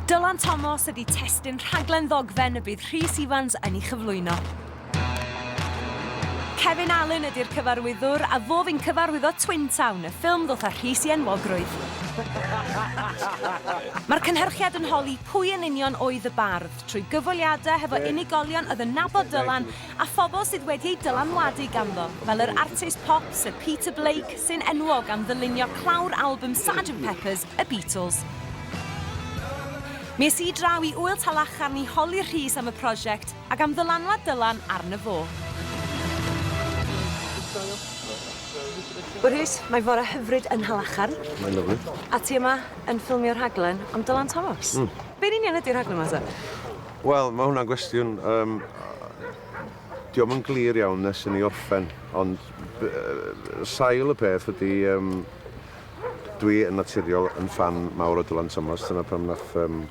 Dylan Thomas ydy testyn rhaglen ddogfen y bydd Rhys Ifans yn ei chyflwyno. Kevin Allen ydy'r cyfarwyddwr a fo fi'n cyfarwyddo Twin Town, y ffilm ddoth â Rhys i enwogrwydd. Mae'r cynhyrchiad yn holi pwy yn union oedd y bardd, trwy gyfweliadau hefo unigolion oedd yn nabod Dylan a phobl sydd wedi eu dylanwadu ganddo, fel yr artist pop Sir Peter Blake, sy'n enwog am ddylunio clawr albwm Sergeant Pepper's, y Beatles. Mi es i draw i Ŵyl Talacharn i holi Rhys am y prosiect ac am ddylanwad Dylan arno fo. Wel Rhys, mae fore hyfryd yn Nhalacharn. Mae'n lyfli. A ti yma yn ffilmio rhaglen am Dylan Thomas. Mm. Be'n union ydi rhaglen 'ma te? Wel, mae hwnna'n gwestiwn, um, di o'm yn glir iawn nes i ni orffen, ond sail y peth ydy, um, dwi yn naturiol yn fan mawr o Dylan Thomas, dyna pam nath um,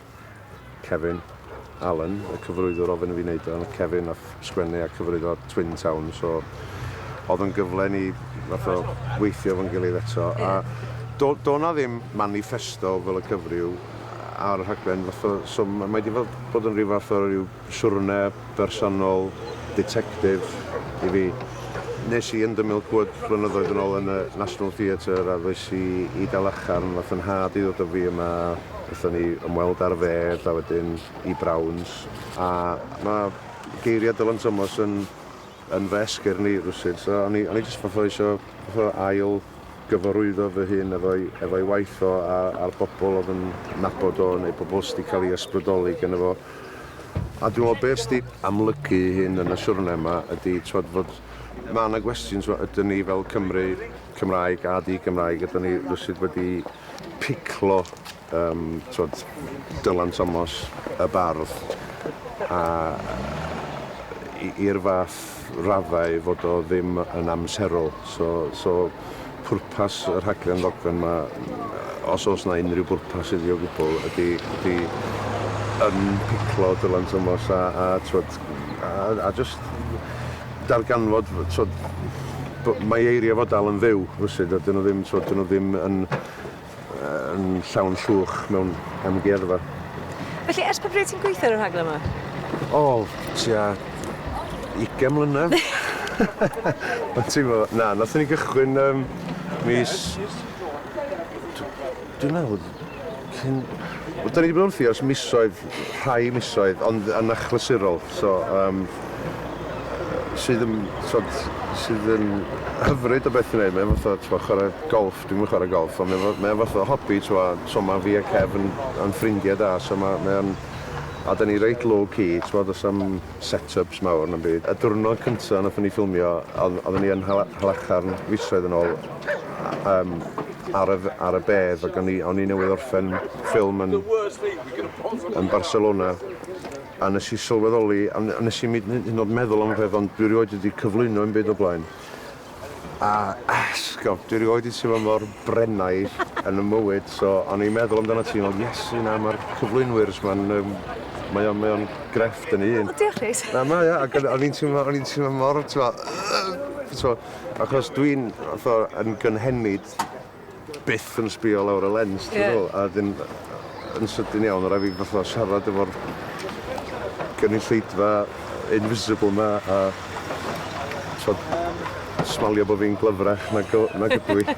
Kevin Allen, y cyfrwyddwr ofyn i fi wneud o, Kevin nath sgwennu a cyfrifo Twin Town so oedd yn gyfle ni fath o weithio efo'n gilydd eto a do, do na ddim manifesto fel y cyfryw ar y rhaglen fath o so mae wedi bod yn rhyw fath o ryw siwrne bersonol detective i fi nes i yn dymil cwyd flynyddoedd yn ôl yn y National Theatre a ddoes i i Dalacharn fath yn had i ddod o fi yma wrthyn ni ymweld ar fedd a wedyn i Browns a mae Geiriau Dylan Thomas yn yn fy esgyr ni rywsut. So o'n i o'n i jyst fatha isio fatha ail gyfarwyddo fy hun efo'i efo'i waith o a a'r bobl oedd yn nabod o neu pobl sy' 'di cael ei ysbrydoli geno fo. A dwi'n meddwl be' sy' 'di amlygu ei hun yn y siwrne 'ma ydi t'wod fod ma' 'na gwestiwn t'mo' ydyn ni fel Cymry, Cymraeg a di-Gymraeg, ydyn ni rywsut wedi piclo um, twod, Dylan Thomas, y bardd, a i'r fath raddau fod o ddim yn amserol. So, so pwrpas y rhaglen ddogan yma, os oes yna unrhyw bwrpas iddi o gwbl, ydy, ydy yn piclo Dylan Thomas a, a, twod, a, a just darganfod, twod, mae eiriau fod dal yn fyw, rwysid, a dyn nhw ddim, twod, dyn nhw ddim yn yn llawn llwch mewn amgueddfa. Felly, ers pa bryd ti'n gweithio ar y rhaglen yma? O, tua 20 mlynedd. Ond ti'n gwybod, na, nathon ni gychwyn um, mis... Dwi'n meddwl, cyn... Wel, da ni wedi bod wrthi ers misoedd, rhai misoedd, ond yn achlysurol. So, um, sydd yn, sod, sydd yn hyfryd o beth i wneud. Mae'n fath o chwarae golf Dwi'm yn chwarae golff ond mae o mae o fath o hobi t'wod so ma' fi a Kev yn yn ffrindiau da so ma' mae o'n a 'dan ni reit low key t'wod do's na'm set ups mawr na'm byd. Y diwrnod cynta' nathon ni ffilmio o'dd oedden ni yn Nhal- Nhalacharn fisoedd yn ôl a yym ar y f- ar y bedd ag o'n i o'n i newydd orffen ffilm yn yn Barcelona a nes i sylweddoli a n- a nes i'm 'yd yn 'yd yn o'd meddwl am y peth ond dwi rioed wedi cyflwyno 'im byd o blaen. A esgob, dwi rioed 'di teimlo mor Brennaidd yn 'y mywyd, so o'n i'n meddwl amdanat ti, ond Iesu na, ma'r cyflwynwyrs 'ma'n yym mae o'n mae o'n grefft yn 'i un. O diolch Rhys. Na mae o, ac o'n o'n i'n teimlo o'n i'n teimlo mor t'mo' t'mo' achos dwi'n fatha yn gynhenid byth yn sbio lawr y lens, ti'n yeah. a dyn, yn sydyn iawn, rhaid fi fatha siarad efo'r gynulleidfa invisible ma, a so, smalio bod fi'n glyfrach na, go, na gydw i.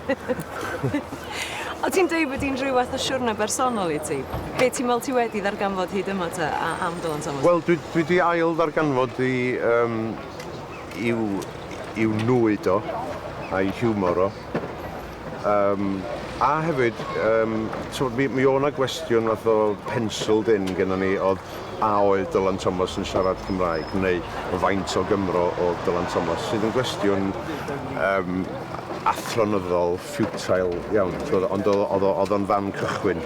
o ti'n dweud bod hi'n rhywbeth o siwrna bersonol i ti? Be ti'n meddwl ti wedi ddarganfod hyd yma ta a am Dylan Thomas? Wel, dwi, dwi wedi ail ddarganfod i, um, i'w, i'w nwy do, a'i hiwmor o. Yym, a hefyd, yym, t'mod mi mi o' 'na gwestiwn fath o penciled in gynnon ni o'dd a oedd Dylan Thomas yn siarad Cymraeg neu faint o Gymro o'dd Dylan Thomas sydd yn gwestiwn yym athronyddol futile iawn t'mod ond o'dd o'dd o o'dd o'n fan cychwyn.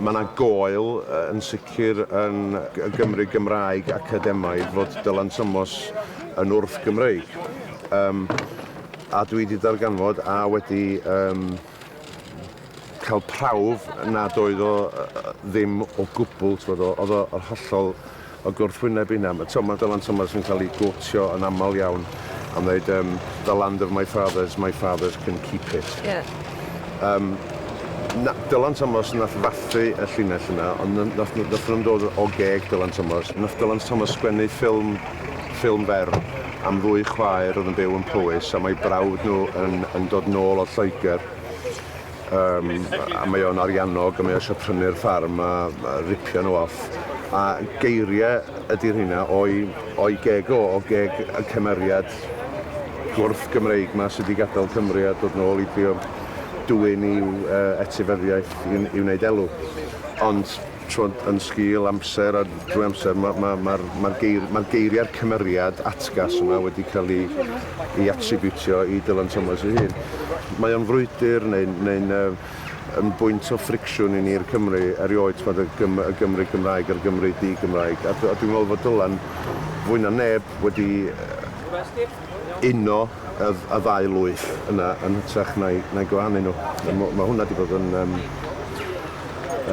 Ma' 'na goel yy yn sicr yn g- y Gymry Gymraeg academaidd fod Dylan Thomas yn wrth-Gymreig. Yym. A dwi 'di darganfod a wedi yym ca'l prawf nad oedd o yy ddim o gwbwl t'mod o- o'dd o yr hollol o gwrthwyneb i hynna. Ma' t'mo' ma' Dylan Thomas yn ca'l 'i gotio yn amal iawn am ddeud yym the land of my fathers, my fathers can keep it. Ie. Yym na- Dylan Thomas nath fathu y llinell yna ond n- nath n- nathon nw'm dod o geg Dylan Thomas. Nath Dylan Thomas sgwennu ffilm ffilm fer am ddwy chwaer oedd yn byw yn Powys a mae brawd nhw yn, yn dod nôl o Lloegr um, a mae o'n ariannog a mae o eisiau prynu'r ffarm a, a ripio nhw off a geiriau ydy'r hynna o'i, o'i geg o, o geg y cymeriad gwrth Gymreig ma sydd wedi gadael Cymru a dod nôl i drio dwyn i'w uh, etifeddiaeth i, i wneud elw. Ond T'wod, yn sgil amser a drwy amser ma' ma' ma'r ma'r geir- ma'r geiria'r cymeriad atgas yma wedi cael ei ei atribiwtio i Dylan Thomas ei hun. Mae o'n frwydr neu'n neu'n yy yn bwynt o ffricsiwn i ni'r Cymry erioed, t'mod, y Gym- y Gymry Gymraeg a'r Gymry di-Gymraeg. A dw- a dwi'n meddwl fod Dylan, fwy na neb, wedi yy uno y y ddau lwyth yna yn hytrach na'i na'i gwahanu nhw. Yeah. Mae ma hwnna wedi bod yn um,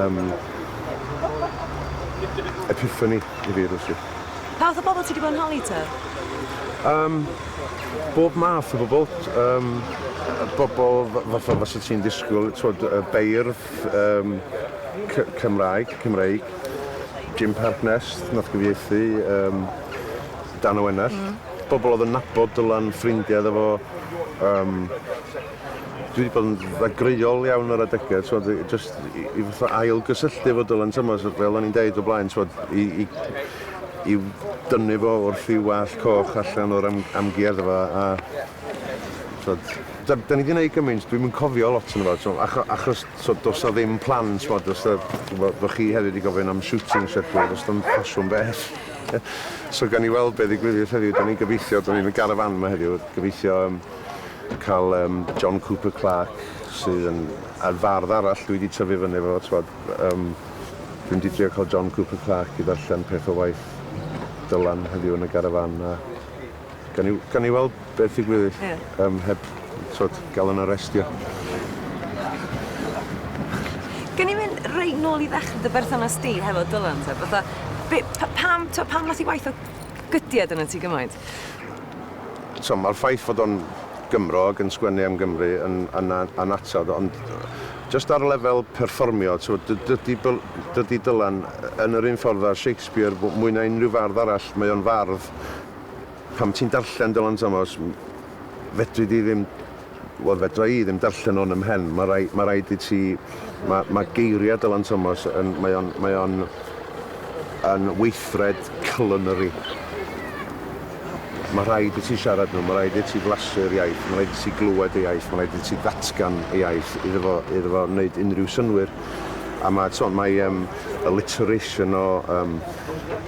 um, epiphany i fi rwysyd. Pa fath o bobl ti wedi bod yn holi ta? Um, bob math o bobl. Um, bobl fatha fas y ti'n disgwyl, twod, y beirdd, um, Cymraeg, Cymreig, Jim Parknest, nath gyfieithu, um, Dan Owenell. Mm. Bobl oedd yn nabod Dylan, ffrindiau iddo fo. Yym, dwi 'di bod yn ddagreuol iawn ar adegau, t'mod, i- jyst i i fatha ailgysylltu efo Dylan Thomas, fel o'n i'n deud o blaen, t'mod, i i i dynnu fo wrth ei wallt coch allan o'r am- amgueddfa a a t'mod, da da ni 'di neud gymaint, dwi'm yn cofio lot ohono fo, t'mod, acho- achos t'mod, does 'na ddim plan, t'mod, os 'na, bo' bo' chi hefyd 'di gofyn am shooting schedule, does 'na'm ffasiwn bell. Ie. So gawn ni weld be' ddigwyddith heddiw. 'Dan ni'n gobeithio, 'dan ni yn y garafan yma heddiw, gobeithio yym ca'l yym John Cooper Clarke sydd yn a'r fardd arall dwi 'di tyfu fyny efo fo t'wod yym dwi mynd i drio ca'l John Cooper Clarke i ddarllen peth o waith Dylan heddiw yn y garafan a Gawn ni, gawn ni weld beth ddigwydd i, yeah. um, heb twod, gael yn arrestio. Gawn ni mynd reit nôl i ddechrau dy berthynas di hefo Dylan, te? Fatha, be, pa, pam, to, pam nath i waith o gydiad yn y ti gymaint? So, mae'r ffaith fod o'n Gymro ac yn sgwennu am Gymru yn, yn, yn atod, ond just ar lefel perfformio, so, dydy, dydy Dylan yn yr un ffordd â Shakespeare mwy na unrhyw fardd arall, mae o'n fardd Pan ti'n darllen Dylan Thomas, fedri di ddim, wel fedra i ddim darllen o yn 'y mhen. Mae rhai- mae rhaid i ti, ma- mae geiriau Dylan Thomas yn, mae o'n, mae o'n yn weithred culinary. Mae rhaid i ti siarad nhw, mae rhaid i ti flasu'r iaith, mae rhaid i ti glywed y iaith, mae rhaid i ti ddatgan y iaith iddo fo, iddo fo wneud unrhyw synnwyr. A mae, t'mod, mae um, alliteration o um,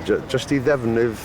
j- jyst i ddefnydd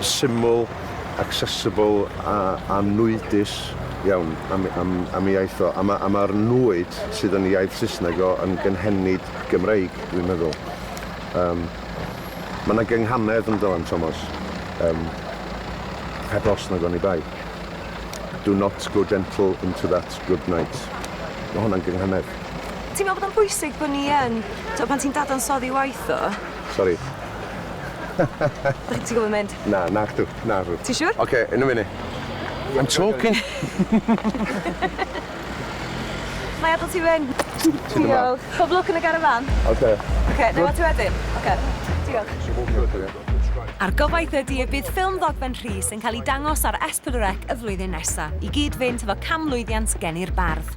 syml, accessible a a nwydus iawn am am am ei iaith o. A ma' a ma'r nwyd sydd yn ei iaith Saesneg o yn gynhenid Gymreig dwi'n meddwl. Yym ma' 'na gynghanedd ynddo yn Tomos yym heb os nag oni bai. Do not go gentle into that good night. Ma' hwnna'n gynghanedd. Ti'n me'wl bod o'n bwysig bo' ni yn t'o' pan ti'n dadansoddi waith o Sori. Ti'n gwybod mynd? Na, nag dw, na dw. Ti'n siŵr? Oce, yn y funud. I'm talking. Mae adael ti fynd. Diolch. Pob lwc yn y garafan. Oce. Oce, neu ti wedyn. Oce. Diolch. A'r gobaith ydy y bydd ffilm ddogfen Rhys yn cael ei dangos ar S4C y flwyddyn nesaf, i gyd-fynd efo canmlwyddiant geni'r bardd.